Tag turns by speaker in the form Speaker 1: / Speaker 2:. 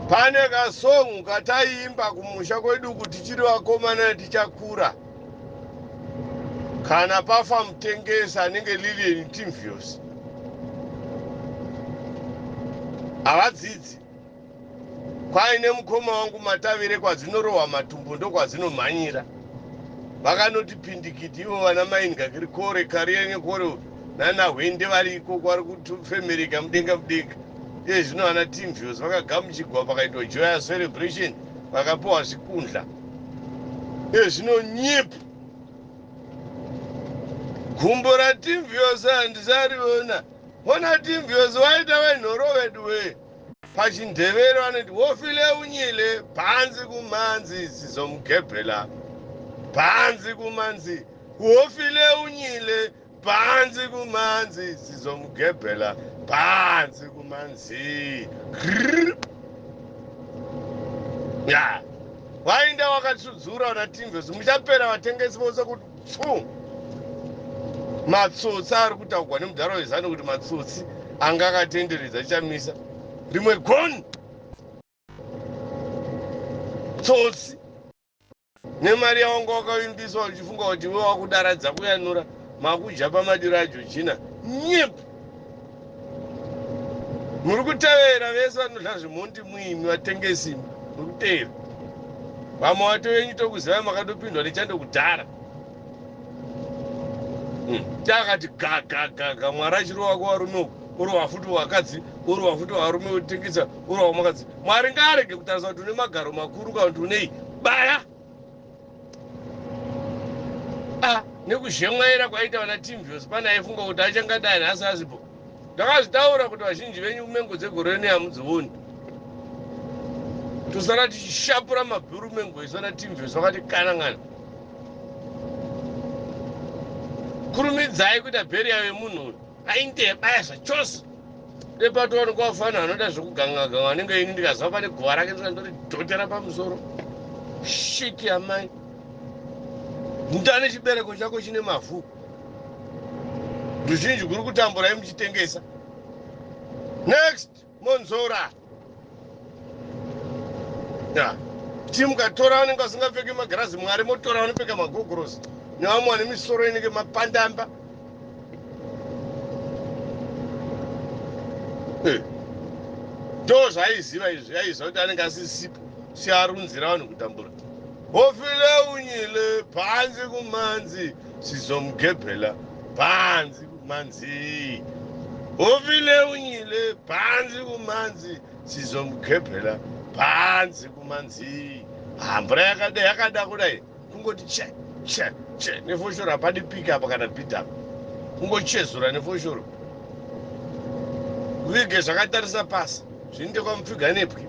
Speaker 1: Pane ka song kataiimba kumusha kwedu uku tichiri vakomana tichakura kana pafa mutengesi anenge Lilian Timvios. Havadzidzi. Kwaine mukoma wangu Matavire kwadzinorohwa matumbu ndokwadzinomhanyira. Vakanoti pindikiti ivo vana Mai Ngakirikore, Karienye Kore nana Hwende vari ikoko vari kufemereka mudenga mudenga. Iye zvino ana Tinvios vakagamuchigwa pakaitwa joyous celebration vakapiwa zvikundla. Iye zvino nyip! Gumbo raTinvios handisariona. Hona Tinvios waita wenhoro veduwee. PachiNdevere vanoti wofile unyile bhanzi kumhanzi zizomugebhela bhanzi kumhanzi wofile unyile. Panzi kumanzi sizomugebhela panzi kumanzi Grrrr. ya wainda wakasudzura una tinvesi muchapera vatengesi vose kuti pfu matsotsi ari kutaugwa nemudhara wezanu kuti matsotsi anga akatenderedza chamisa rimwe goni tsotsi Nemari yawanga wakavimbiswa uchifunga kuti iwe wakudara dzakuyanura makudya pamadiro aJojina nyip murikutevera vese vanodla zvemhondi muimi vatengesi imi murikutevera vamwe vato venyu tokuzivai makatopindwa nechando kudhara. hmm. takati gagagaga mwari achirova kuvarume uku orova futi vakadzi orova futi varume votengesa orova makadzi mwari ngaarege kutarisa kuti une magaro makuru kana kuti unei baya a ah, nekuzhemwaira kwaita vana timvios pane aifunga kuti achangadai nhasi asipo Ndakazvitaura kuti vazhinji venyu mengo dzegore rino hamudzioni. Tosara tichishapura mabhuru mengo isu ana Timves vakati kanangana. Kurumidzai kuita burial yemunhu uyu. Ainge yabaya zvachose. Dai patowanikwa fana anoda zvekuganga ganga anenge ini ndikaziva pane guva rake ndikandori dhotera pamusoro. Shit amai. Mutane chibereko chako chine mavhu. ruzhinji guri kutamburai muchitengesa next monzora yeah. chimuka tora vanenge vasingapfeki magirazi mwari motora vanopfeka magogorosi nevamwe vane misoro inenge mapandamba eh. ndo zvaiziva izvi aiziva kuti anenge asisipo siarunzira vanhu kutambura Bofile unyile panzi kumanzi sizomugebhela panzi kumanzii Bofile unyile panzi kumanzi sizomugebhela panzi kumanzii Ah mvura yakada yakada kudai kungoti che che che nefoshoro hapadi pick up kana beat up kungochezura nefoshoro vige zvakatarisa pasi zvinoite kwamupfiga nepwi